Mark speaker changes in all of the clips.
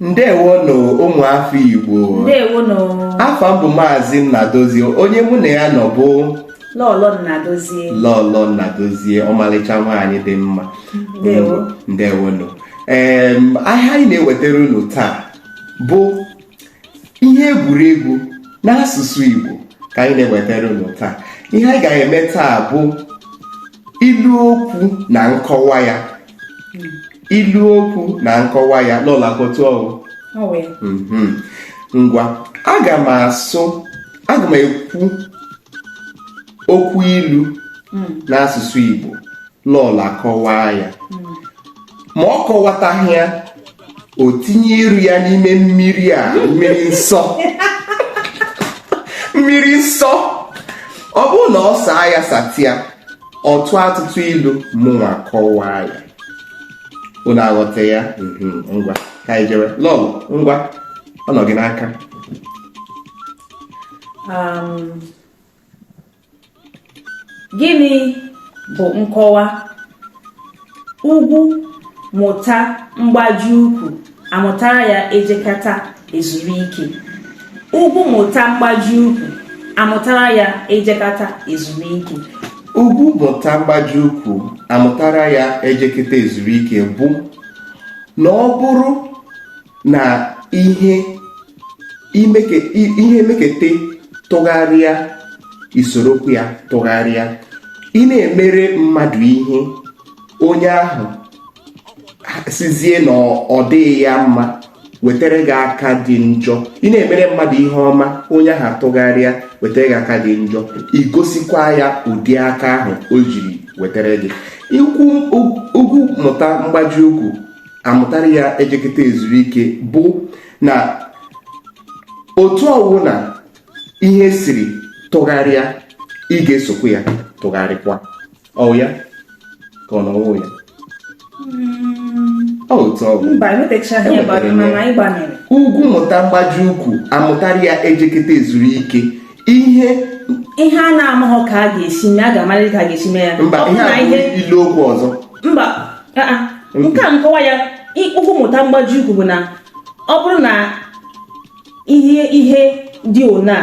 Speaker 1: ndewonụ ụmụ afọ igbo ndewonụ
Speaker 2: afa m bụ maazị
Speaker 1: nnadozie onye mụ na ya nọ bụ
Speaker 2: lọlọ nnadozie lọlọ
Speaker 1: nnadozie ọmalịcha nwaanyị dị mma ndewo ndewonụ ee ihe anyị na-ewetara unu taa bụ ihe egwuregwu n'asụsụ Igbo ka anyị na-ewetara unu taa ihe anyị ga-eme taa bụ ilu okwu na nkọwa ya ilu okwu na nkọwa ya lọlọ ọ kwa otu ọ wụ mhm. ngwa aga m asụ aga m ekwu okwu ilu hmm. n'asụsụ Igbo lọlọ akọwaa ya hmm. ma ọ kọwataghị ya o tinye iru ya n'ime mmiri a mmiri nsọ mmiri nsọ ọ bụrụ na ọ saa ya sata ya ọ tụọ atụtụ ilu mụnwa kọwaa ya unu aghọta ya mhm, ngwa ka anyị jere lọlọ ngwa ọ nọ gị n'aka um,
Speaker 2: Gịnị bụ nkọwa? Ugwu mụta mgbaji ukwu amụtara ya ejekata ezuru ike. Ugwu mụta mgbaji ukwu amụtara ya ejekata ezuru ike. Ugwu mụta
Speaker 1: mgbaji ukwu amụtara ya ejekata ezuru ike bụ na ọ bụrụ na ihe ihe meketa tụgharịa i sorokwu ya tụgharịa ị na-emere mmadụ ihe onye ahụ sịzie na ọ dịghị ya mma wetara gị aka dị njọ ị na-emere mmadụ ihe ọma onye ahụ atụgharịa wetara gị aka dị njọ i gosikwa ya ụdị aka ahụ o jiri wetara gị ugwu mụta mgbaji ukwu amụtara ya ejeketa ezuru ike bụ na otu ọwụna ihe siri tụgharịa ị ga-esokwu ya tụgharịkwa ọ wụ ya ka ọ na ọ wụghị ya hmm. otu ọ wụ ugwu mụta mgbaji ukwu amụtara ya ejeketa ezuru ike ihe ihe
Speaker 2: a na-amaghọ ka a ga-esi mee a ga-amarịrị ka a ga-esi mee ya mba ihe a
Speaker 1: bụ ilu okwu ọzọ
Speaker 2: mba nke a nkọwa ya ugwu mụta mgbaji ukwu bụ na ọ bụrụ na ihe ihe dị ona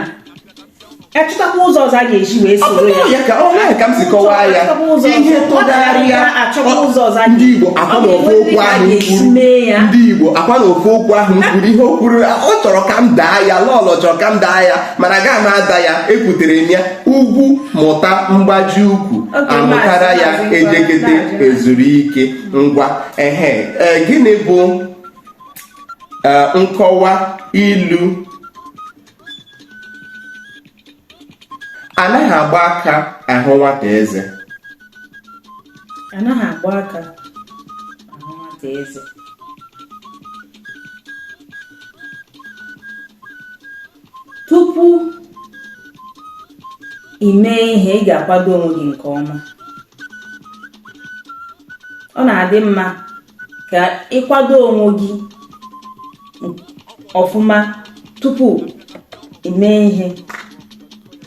Speaker 2: a chọtakwa ụzọ ọzọ a ga-eji wee soro ya ka ọ naghị ka m si
Speaker 1: kọwaa ya ihe tụgharịa ndị Igbo akwa na ofe okwu ahụ ndị Igbo akwa na ofe okwu ahụ kwuru ihe o kwuru ọ chọrọ ka m daa ya lọlọ chọrọ ka m daa ya mana agaghị m ada ya ekwutere m ya ugwu mụta mgbaji ukwu amụtara ya ejekete ezuru ike ngwa ehe e, gịnị bụ e, nkọwa ilu anaghị agba aka ahụ nwata eze
Speaker 2: anaghị agba aka ahụ nwata eze tupu ị mee ihe ị ga-akwado onwe gị nke ọma ọ na-adị mma ka ị kwado onwe gị ọfụma tupu ị mee ihe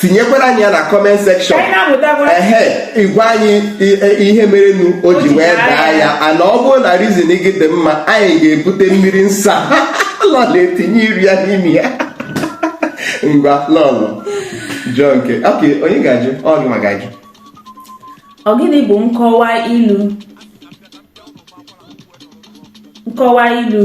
Speaker 1: tinyekwara anyị ya na comment section ị gwa anyị ihe merenu o ji wee daa ya and ọ bụrụ na reason gị dị mma anyị ga-ebute mmiri nsọ lọlọ etinye iru ya n'ime ya ngwa lọlọ jụọ nke okay onye ga-ajụ ọ gịnwa
Speaker 2: ga-ajụ ọ gịnị bụ nkọwa ilu nkọwa ilu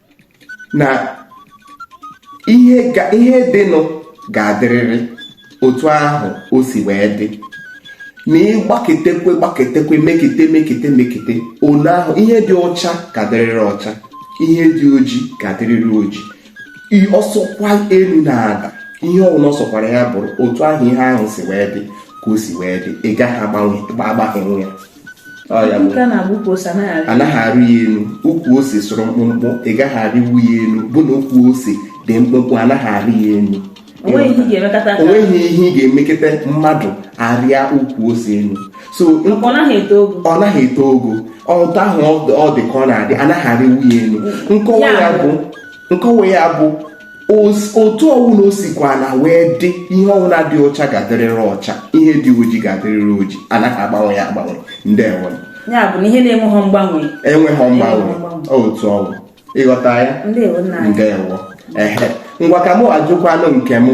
Speaker 1: na ihe ihe dịnụ ga-adịrịrị otu ahụ o si wee dị na ị gbaketekwe gbaketekwe mekete mekete mekete ole ahụ ihe dị ọcha ga-adịrịrị ọcha ihe dị oji ga-adịrịrị oji ọ sọkwa elu na-ada ihe ọbụla ọ sọkwara ya bụrụ otu ahụ ihe ahụ si wee dị ka o si wee dị ị gaghị agbanwe agbanwe ya anaghị arị ya elu ukwu ose sụrụ mkpụmkpụ ị gaghị arịwu ya elu bụ na ukwu ose dị mkpụmkpụ anaghị arị ya elu onweghị ihe ị ga-emekata mmadụ arịa ukwu ose elu
Speaker 2: so ọ naghị eto
Speaker 1: ogo otu ahụ ọ dị ka ọ na-adị anaghị arịwu ya elu nkọwa ya bụ otu ọwụna o sikwana wee dị ihe ọwụna dị ọcha ga-adịrịrị ọcha ihe dị oji ga-adịrịrị oji anaghị agbanwe ya agbanwe ndewo ya bụ na
Speaker 2: ihe na-enweghọ mgbanwe enweghọ
Speaker 1: mgbanwe otu ọwụ ị ghọta ya ndewo ehe ngwa ka mụ ajụkwanụ nke m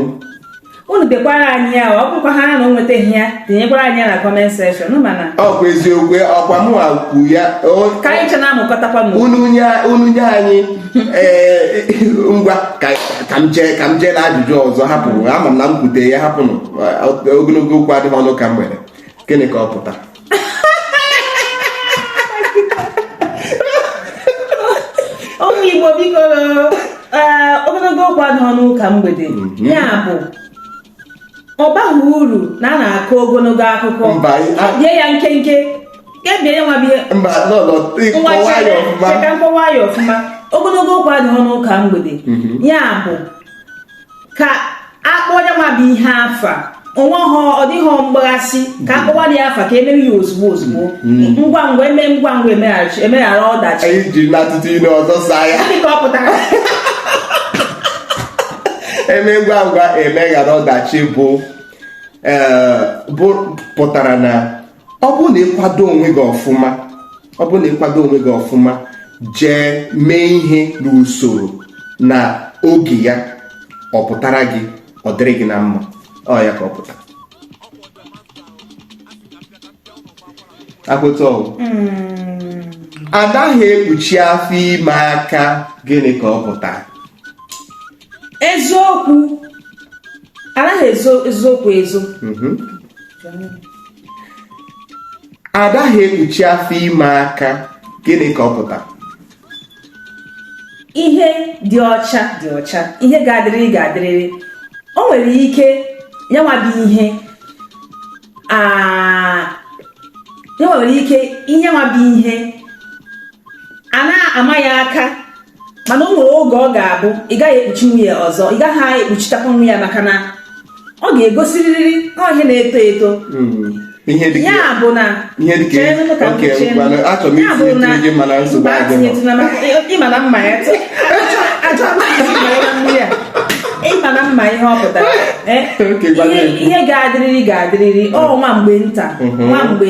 Speaker 1: unu
Speaker 2: dekwara anyị ya ọ bụkwa ha na o nwetaghị ya tinyekwara anyị ya na comment section mana ọkwa eziokwu
Speaker 1: ọkwa mụnwa kwu ya ka anyị chena
Speaker 2: amụkọtakwa m unu nye
Speaker 1: anyị eh, ngwa ka m jee ka m jee na ajụjụ ọzọ hapụ ama m na m kwute ya hapụnụ ogologo okwu adịghị n'ụka mgbede gịnị ka ọ pụtara
Speaker 2: ụmụ igbo biko ee, ogologo okwu adịghị n'ụka mgbede ya bụ ọ baghị uru na a na-akọ ogologo akụkọ Mba, anyị- a- bie ya nkenke kebie ya nwa bie mba no no ngwa ịkọwa ya chere ọfụma chee ka m kọwaa ya ọfụma ogologo okwu adịghị n'ụka mgbede ya bụ ka akpọ nyanwa bụ ihe afa onwe ha ọ dịghị mgbaghasị ka akpọwa dị afa ka emere ya ozugbo ozugbo ngwa ngwa eme ngwa ngwa emeghachi emeghara ọdachi anyị ji n'atụtụ
Speaker 1: ilu ọzọ saa ya Gịnị ka ọ pụtara eme ngwa ngwa emeghara ọdachi bụ ee, bụ pụtara na ọ bụrụ na ịkwado onwe gị ọfụma ọ bụrụ na ịkwado onwe gị ọfụma jee mee ihe n'usoro na oge ya ọ pụtara gị ọ dịrị gị na mma ọ ya ka ọ pụta akpụta ọgwụ adaghị ekpuchi afọ ime aka gịnị ka ọ pụtara
Speaker 2: eziokwu anaghị ezo eziokwu ezo mhm.
Speaker 1: adaghị ekpuchi afọ ime aka gịnị ka ọ pụta
Speaker 2: ihe dị ọcha dị ọcha ihe ga-adịrịrị ga-adịrịrị o nwere ike nyanwa bụ ihe nyanwa nwere ike nyanwa bụ ihe a na-ama ya aka mana o nwere oge ọ ga-abụ ị gaghị ekpuchinwu ya ọzọ ị gaghị ekpuchitakwanwu ya maka na ọ ga-egosirịrị ihe na-eto eto hmm. ihe dị ya bụ na ihe dị ka oke mana achọrọ m isi etinye gị mana nsogbu adị ị ma na m ma ya ị ma na m ma ihe ọ pụtara eh? ihe ga-adịrịrị ga-adịrịrị ọ nwa mgbe nta mhm. nwa mgbe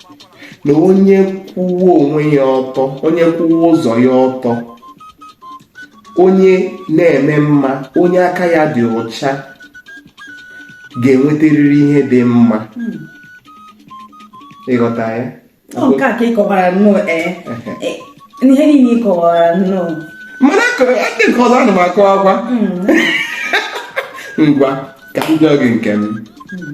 Speaker 1: na onye kwụwa onwe ya ọtọ onye kwụwa ụzọ ya ọtọ onye na-eme mma onye aka ya dị ọcha ga-enwetarịrị ihe dị mma hmm. ị ghọta ya nke
Speaker 2: a ka ị kọwara nnọọ ee eh, ihe niile ị kọwara
Speaker 1: nnọọ mana ndị nke ọzọ ana m akọwakwa hmm. ngwa ka m jụọ gị nke m hmm.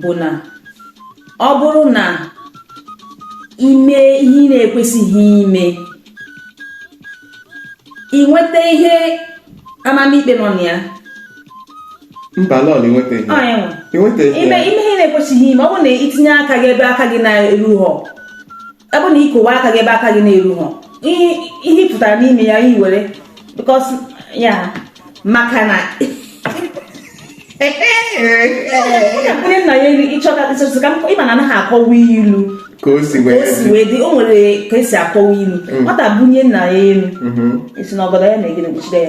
Speaker 2: bụ na ọ bụrụ na ime ihe ị na-ekwesịghị ime ị nweta ihe amamikpe nọ na
Speaker 1: ya mba lọl i
Speaker 2: nwetaghị ime ihe na-ekwesịghị ime ọ bụrụ na itinye aka gị ebe aka gị na-erughọ ọ bụrụ na ikowe aka gị ebe aka gị na-erughị ihe pụtara n'ime ya i were because ya maka na onye nna ya elu ịchọta ịchọta ka ịma na anaghị akọwa ilu ka
Speaker 1: o si wee dị o
Speaker 2: nwere ka esi akọwa ilu mm. nwata bunye nna ya elu mm-hmm. esi na ọgọdọ ya na-egide kpuchide ya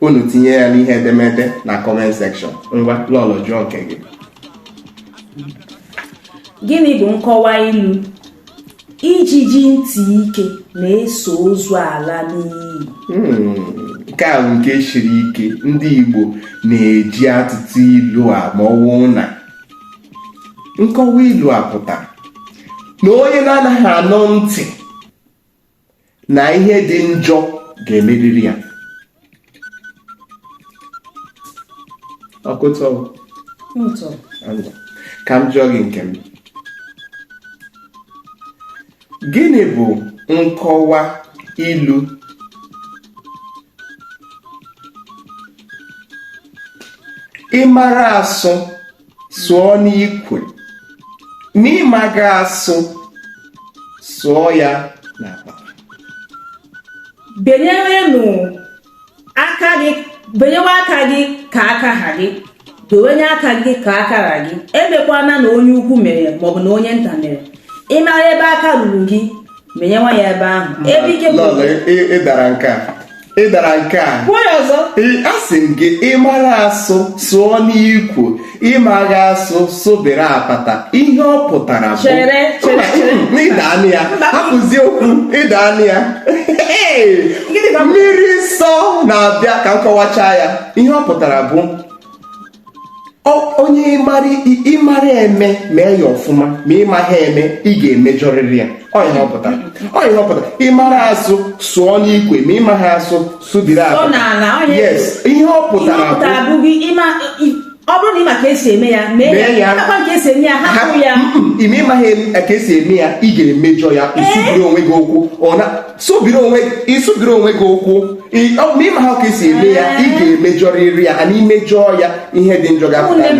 Speaker 1: unu tinye ya n'ihe edemede na comment section ngwa lọlọ jụọ nke
Speaker 2: gị gịnị bụ nkọwa ilu ijiji ntị ike na-eso ozu ala n'inyi
Speaker 1: hmm, nke a bụ nke siri ike ndị Igbo na-eji atụtụ ilu a ma ọwụ na nkọwa ilu a pụtara na onye na-anaghị anụ ntị na ihe dị njọ ga-emeriri ya ọkụtọ ka m jụọ gị nke m gịnị bụ nkọwa ilu ịmara asụ sụọ n'ikwe ma ịmaghị asụ sụọ ya
Speaker 2: n'apata benyewenụ aka gị benyewe aka gị ka aka ha gị dowenye aka gị ka aka ha gị emekwana na onye ukwu mere maọbụ na onye nta mere ị mara ebe aka ruru gị benyewe ya ebe ahụ ebe ike bụ Lọlọ, ị- ị dara nke a ị
Speaker 1: dara nke a kwuo ya ọzọ
Speaker 2: Ị- asị m gị
Speaker 1: ịmara asụ sụọ n'ikwe ịmaghị asụ sụbiri apata ihe ọ pụtara bụ Chere, chere, chere. Mba, ị daana ya Mba. hapụzie okwu ị daana ya Hey! Gịnị ka- mmiri nsọ na-abịa ka m kọwachaa ya ihe ọ pụtara bụ onye ịmara eme mee ya ọfụma ma ịmaghị eme ị ga-emejọrịrị ya ọ ihe ọ pụtara ọ ihe ọ pụtara ịmara asụ sụọ n'ikwe ma ịmaghị asụ sụbiri apata yes ihe ọ pụtara bụ ọ bụrụ na
Speaker 2: ị ma ka esi eme ya mee ya akwa ka esi eme ya hapụ ya ime ịmaghị
Speaker 1: ka esi eme ya ị ga-emejọ ya ịsụbiri onwe gị ụkwụ ọ na sụbiri onwe ịsụbiri onwe gị ụkwụ ma ịmaghị ka esi eme ya ị ga-emejọrịrị ya and imejọọ ya ihe dị njọ ga-apụta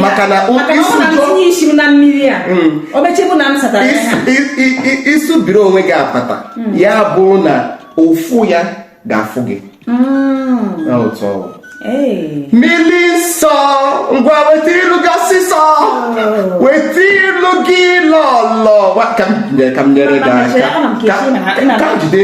Speaker 2: maka na ịsụbiri
Speaker 1: mm. onwe gị apata mm. ya bụ na ụfụ ya ga-afụ gị mm. otu ọ wụ mmiri nsọ ngwa weta ilu gị ọsịsọ oh. weta ilu gị lọlọ ka m nyere gị aka ka jide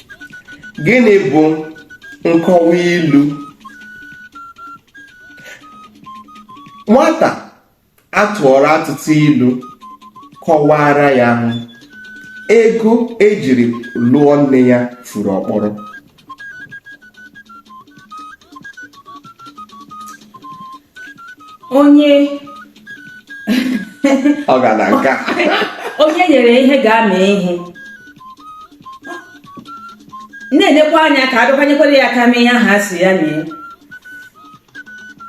Speaker 1: gịnị bụ nkọwa ilu nwata atụọrọ atụtụ ilu kọwara ya ahụ ego ejiri lụọ nne ya furu ọkpọrọ onye ọ ga na
Speaker 2: nka onye enyere ihe ga-eme ihe na-elekwa anya ka a bịakwa nyekwere ya aka mee ihe ahụ a sị ya mee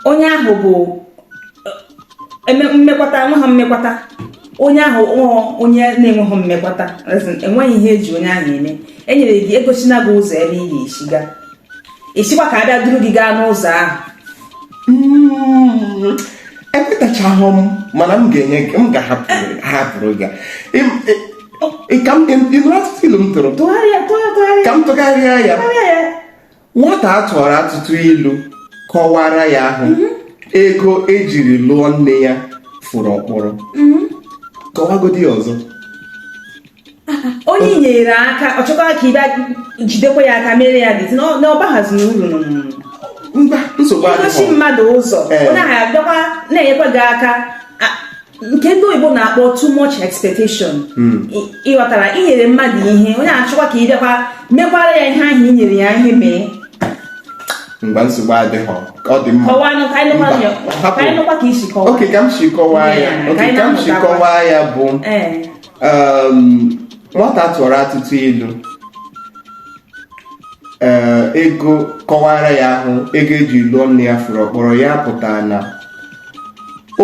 Speaker 2: onye ahụ bụ eh, eme- mmekwata enweghị mmekwata onye ahụ ọ onye na-enweghị mmekwata as in, enweghị ihe eji onye ahụ eme enyere gị egosina gị ụzọ ebe ị ga-esi ga ị sịkwa ka a bịa duru gị gaa n'ụzọ ahụ
Speaker 1: hmm, ekwetachaghị m mana m ga-ahapụrụ gị ka m ilu atụtụ ilu m tụrụ ka m tụgharịa ya nwata a tụọrọ atụtụ ilu kọwara ya ahụ mhm. ego ejiri lụọ nne ya furu ọkpọrọ mhm. kọwagodi ya ọzọ
Speaker 2: onye enyere aka ọ chọkwara ka ị bịa jidekwa ya aka mere ya dị na ọ baghazi uru igosi
Speaker 1: mmadụ
Speaker 2: ụzọ eh. onye ahụ abịakwa na-enyekwa gị aka nke ndị oyibo na-akpọ too much expectation hmm. ịghọtara inyere mmadụ ihe onye achọkwa ka ị bịakwa mekwara ya ihe ahụ inyere ya ihe
Speaker 1: mee mgbe nsogbu adịghị ọ dị mma
Speaker 2: okay ka m si
Speaker 1: kọwaa ya bụ eh. nwata atụọrọ atụtụ ilu ee ego kọwara ya ahụ ego eji lụọ nne ya furu ọkpọrọ ya pụtara na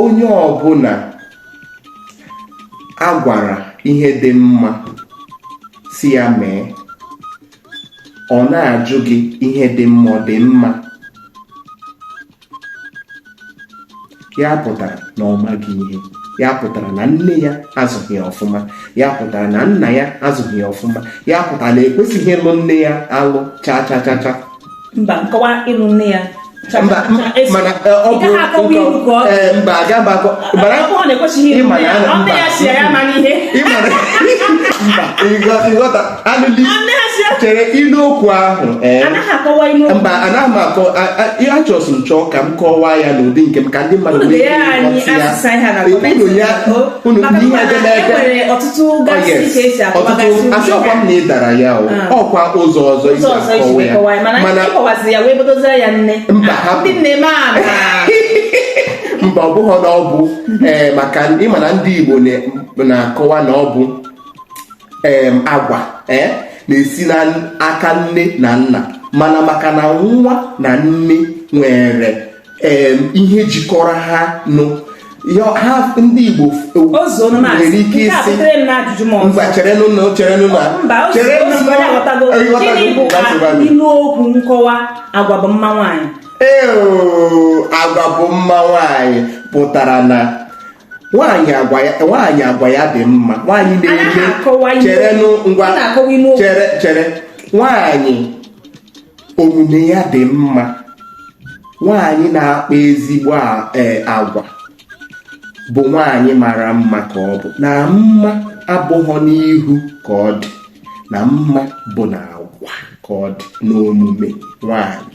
Speaker 1: onye ọbụla a gwara ihe dị mma sị ya mee ọ na-ajụ gị ihe dị mma ọ dị mma ya pụtara na ọ maghị ihe ya pụtara na nne ya azụghị ya ọfụma ya pụtara na nna ya azụghị ya ọfụma ya pụtara na ekwesịghị ịlụ nne ya alụ cha cha cha cha mba nkọwa
Speaker 2: ịlụ nne ya mba mana
Speaker 1: ọ bụ mba aga mba akọ bara ịma na ịma na ịghọta chere ilu okwu ahụ eh? mba anaghị m akọ achọsị m chọọ ka m kọwaa ya n'ụdị nke m ka ndị mmadụ asịkwa m na ị dara ya ah. ọkwa ụzọ ọzọ isi akọwa ya mana mba ah, hapụ mba ọ bụghị na ọ bụ ee eh, maka ịma na ndị Igbo na-akọwa na ọ bụ agwa eh, na-esi n'aka nne na nna mana maka na nwa na nne nwere ihe jikọrọ ha ọnụ ha ndị Igbo nwere ike ịsị mba cherenụ na cherenụ
Speaker 2: na cherenụ ilu okwu nkọwa agwa bụ mma nwaanyị ee
Speaker 1: agwa bụ mma nwaanyị pụtara na nwaanyị agwa ya nwaanyị agwa ya dị mma nwaanyị na-eme chere ngwa chere chere nwaanyị omume ya dị mma nwaanyị na-akpa ezigbo e, agwa bụ nwaanyị mara mma ka ọ bụ na mma abụghọ n'ihu ka ọ dị na mma bụ na agwa ka ọ dị n'omume nwaanyị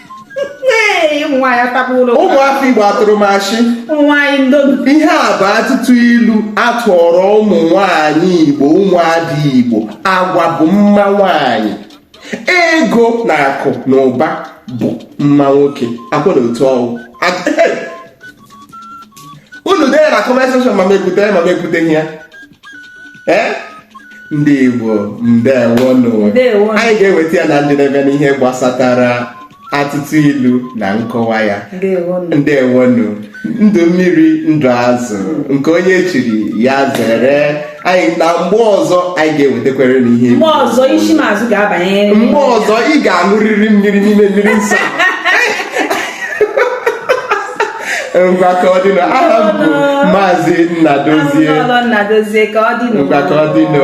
Speaker 1: ụmụafọ igbo atụrụ m ashị ihe a bụ atụtụ ilu atụọrọ ụmụ nwanyị igbo ụmụada igbo agwa bụ mma nwanyị ego na akụ na ụba bụ mma nwoke ọkwa na otu ọ wụ unu dee na comment section ma m ekwute ya ma m ekwuteghị ya ee eh? ndị Igbo ndewonụ anyị ga-eweta ya na njedebe n'ihe gbasatara atụtụ ilu na nkọwa ya ndewonụ ndụ mmiri ndụ azụ nke onye chiri ya zere anyị naa mgbe ọzọ anyị ga-ewetakwere unu ihe mgbe ọzọ isi
Speaker 2: mazụ ga-abanye mgbe ọzọ
Speaker 1: ị ga-aṅụrịrị mmiri n'ime mmiri nsọ ngwa ka ọ dịnụ aha m bụ maazị
Speaker 2: Nnadozie
Speaker 1: Nnadozie ka ọ
Speaker 2: dịnụ ngwa ka
Speaker 1: ọ dịnụ